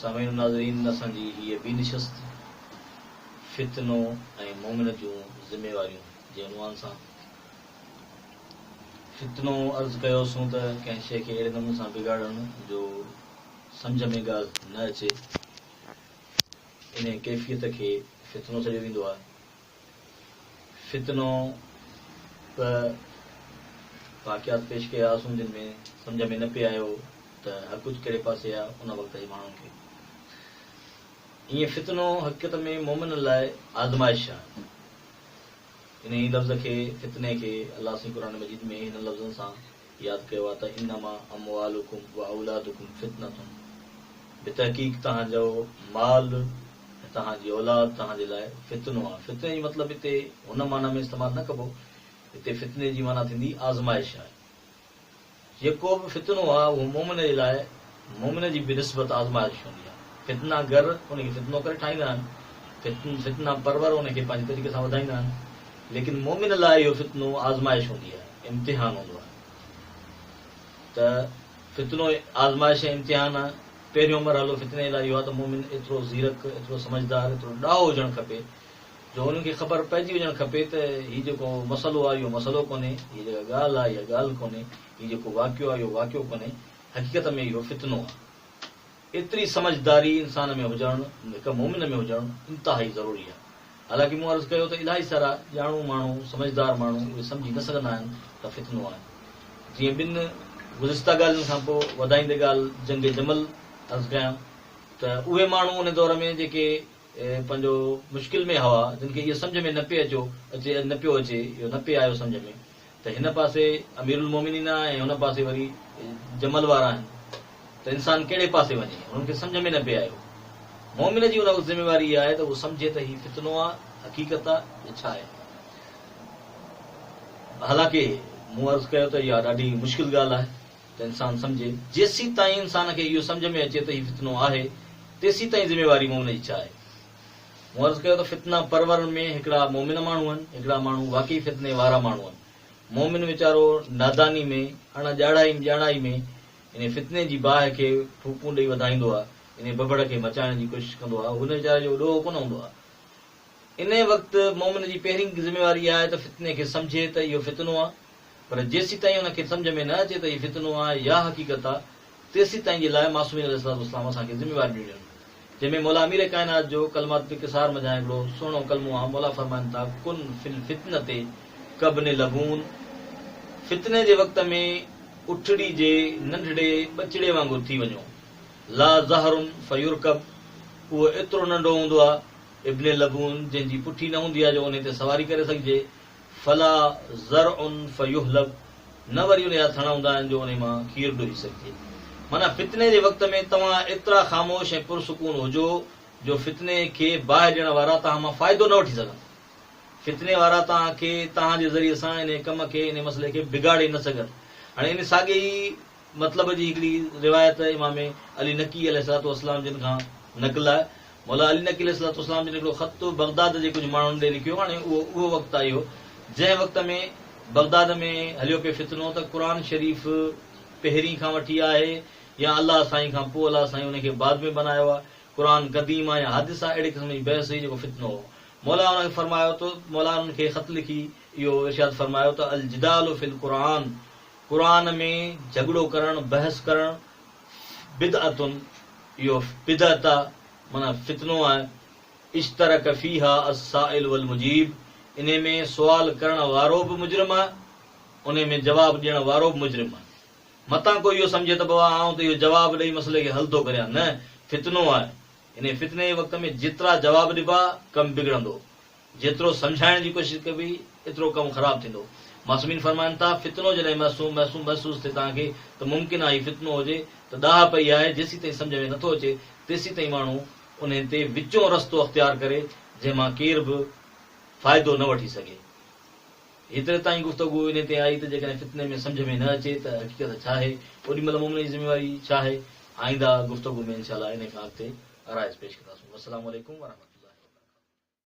سامعين و ناظرين اسان جي هيء ٻي نشست فتنو ۽ مومن جون ذميواريون جي عنوان سان فتنو عرض ڪيو سون ته ڪنهن شيء کي اهڙي نموني سان بگاڙڻ جو سمجهه ۾ ڳالهه نه اچي انهيء ڪيفيت کي فتنو سڏيو ويندو آهي. فتنو ته واقعات پيش ڪيا هئاسون جن ۾ سمجهه ۾ نه پئي آيو ته حقچ ڪهڙي پاسي آ ان وقت جي ماڻهن کي. ايئن فتنو حقيقت ۾ مومنن لاء آزمائش آ. انهيء لفظ کي، فتني کي، الله سائين قرآن مجيد ۾ هنن لفظن سان ياد ڪيو آهي ته انما اموالڪم و اولادڪم فتنة بتحقيق توهان جو مال ۽ توهان جي اولاد توهان جي لاء فتنو آهي فتني جو مطلب هتي هن معنيٰ ۾ استعمال نه ڪبو هتي فتني جي معنيٰ ٿيندي آزمائش آهي جيڪو به فتنو آهي اهو مؤمن جي لاء مؤمن جي بنسبت آزمائش هوندي آهي. فتنه گر ان کي فتنو ڪري ٺاهيندا آهن. فتنه پرور ان کي پنهنجي طريقي سان وڌائيندا آهن. ليڪن مؤمن لاء اهو فتنو آزمائش هوندي آهي، امتحان هوندو آهي. ته فتنو آزمائش ۽ امتحان آهي. پهريون مرحلو فتني لاء اهو آهي ته مؤمن ايترو زيرڪ، ايترو سمجهدار، ايترو ڏاهو هجڻ کپي جو هن کي خبر پئجي وڃڻ کپي ته هي جيڪو مسئلو آهي اهو مسئلو ڪونهي، هيء جيڪا ڳالهه آهي اها ڳالهه ڪونهي، هي جيڪو واقعو آهي اهو واقعو ڪونهي، حقيقت ۾ اهو فتنو آهي. ايتري سمجهداري انسان ۾ هجڻ، هڪ مؤمن ۾ هجڻ انتهائي ضروري آهي. حالانڪه مون عرض ڪيو ته الائي سارا ڄاڻو ماڻهو، سمجهدار ماڻهو اهي سمجهي نه سگهندا آهن ته فتنو آهي. جيئن ٻن گذشته ڳالهين کان پوء وڌائيندي ڳالهه جنگ جمل عرض ڪيان ته اهي ماڻهو ان دور ۾ جيڪي پنهنجو مشڪل ۾ هوا، جن کي اهو سمجهه ۾ نه پئي اچيو اچي نه پيو اچي، اهو نه پئي آيو سمجهه ۾، ته هن پاسي امير المومنين آهي ۽ هن پاسي وري جمل وارا آهن ته انسان ڪهڙي پاسي وڃي؟ هنن کي سمجهه ۾ نه پئي آيو. مومن جي ان وقت ذميواري اها آهي ته هو سمجهي ته هي فتنو آهي، حقيقت آهي يا ڇا آهي؟ حالانڪه مون عرض ڪيو ته اها ڏاڍي مشڪل ڳالهه آهي ته انسان سمجهي. جيسيتائين انسان کي اهو سمجهه ۾ اچي ته هي فتنو آهي، تيسيتائين ذميواري مومن جي ڇا آهي؟ مون عرض ڪيو ته فتنه پرورن ۾ هڪڙا مؤمن ماڻهو آهن، هڪڙا ماڻهو واقعي فتني وارا ماڻهو آهن. مؤمن ويچارو ناداني ۾، اڻ ڄاڻائي ڄاڻائي ۾ انهي فتني جي باهه کي ڦوڪون ڏئي وڌائيندو آهي، انهي ٻٻڙ کي مچائڻ جي ڪوشش ڪندو آهي، هن ويچاري جو ڏوهه ڪونه هوندو آهي. انهي وقت مؤمن جي پهرين ذميواري اها آهي ته فتني کي سمجهي ته اهو فتنو آهي، پر جيسيتائين ان کي سمجهه ۾ نه اچي ته هي فتنو آهي يا حقيقت آ، تيسيتائين جي لاء معصومين عليه الصلوة والسلام اسان کي ذميواري ڏنيون آهن. جنهن ۾ مولا امير ڪائنات جو ڪلمات الانڪسار منجهان هڪڙو سهڻو ڪلمو آ، مولا فرمائن ٿا، ڪن في الفتنة ڪابن لبون، فتني جي وقت ۾ اٺڙي جي ننڍڙي ٻچڙي وانگر ٿي وڃو، لا ظهر فيرڪب، اهو ايترو ننڍو هوندو آ، ابن لبون، جنهن جي پٺي نه هوندي آ جو انهي تي سواري ڪري سگهجي، فلا ذرع فيحلب، نه وري انهي جا ٿڻ هوندا آهن جو انهي مان کير ڊوهي سگهجي. معنيٰ فتني جي وقت ۾ توهان ايترا خاموش ۽ پرسڪون هجو جو فتني کي باهه ڏيڻ وارا توهان مان فائدو نه وٺي سگهن. فتني وارا توهان کي توهان جي ذريعي سان انهي ڪم کي، انهي مسئلي کي بگاڙي نه سگهن. هاڻي انهي ساڳئي ئي مطلب جي هڪڙي روايت امام علي نقي عليه الصلوة والسلام جن کان نقل آهي. مولا علي نقي عليه الصلوة والسلام جن هڪڙو خط بغداد جي ڪجهه ماڻهن ڏي لکيو. هاڻي اهو اهو وقت آئي هو، جنهن وقت ۾ بغداد ۾ هليو پئي فتنو ته قرآن شريف پهرين کان وٺي آهي يا الله سائين کان پوء الله سائين ان کي بعد ۾ بنايو آهي، قرآن قديم آهي يا حادث آهي، اهڙي قسم جي بحث هئي جيڪو فتنو هو. مولا انهن کي فرمايو ته مولا انهن کي خط لکي اهو ارشاد فرمايو ته الجدال في القرآن، قرآن ۾ جهڳڙو ڪرڻ، بحث ڪرڻ، بدعة، اهو بدعة معنيٰ فتنو آهي، اشترڪ فيها السائل والمجيب، انهي ۾ سوال ڪرڻ وارو به مجرم آهي، انهي ۾ جواب ڏيڻ وارو به مجرم آهي. متان ڪو اهو سمجهي ته بابا آئون ته اهو جواب ڏئي مسئلي کي حل ٿو ڪريان، نه، فتنو آهي، انهي فتني جي وقت ۾ جيترا جواب ڏبا، ڪم بگڙندو. جيترو سمجهائڻ جي ڪوشش ڪبي، ايترو ڪم خراب ٿيندو. معصومين فرمائن ٿا، فتنو جڏهن معصوم، محسوم، محسوس ٿئي توهان کي ته ممڪن آ هي فتنو هجي ته ڏاهه پئي آهي، جيسيتائين سمجهه ۾ نٿو اچي، تيسيتائين ماڻهو انهي تي وچون رستو اختيار ڪري، جنهن مان ڪير به فائدو نه وٺي سگهي. هيتري تائين گفتگو انهي تي آئي ته جيڪڏهن فتني ۾ سمجهه ۾ نه اچي ته حقيقت ڇا آهي، اوڏي مهل مومن جي ذميواري ڇا آهي؟ آئنده گفتگو ۾ انشاء الله انهي کان اڳتي آرائز پيش ڪنداسون. والسلام عليڪم ورحمة الله وبرڪاته.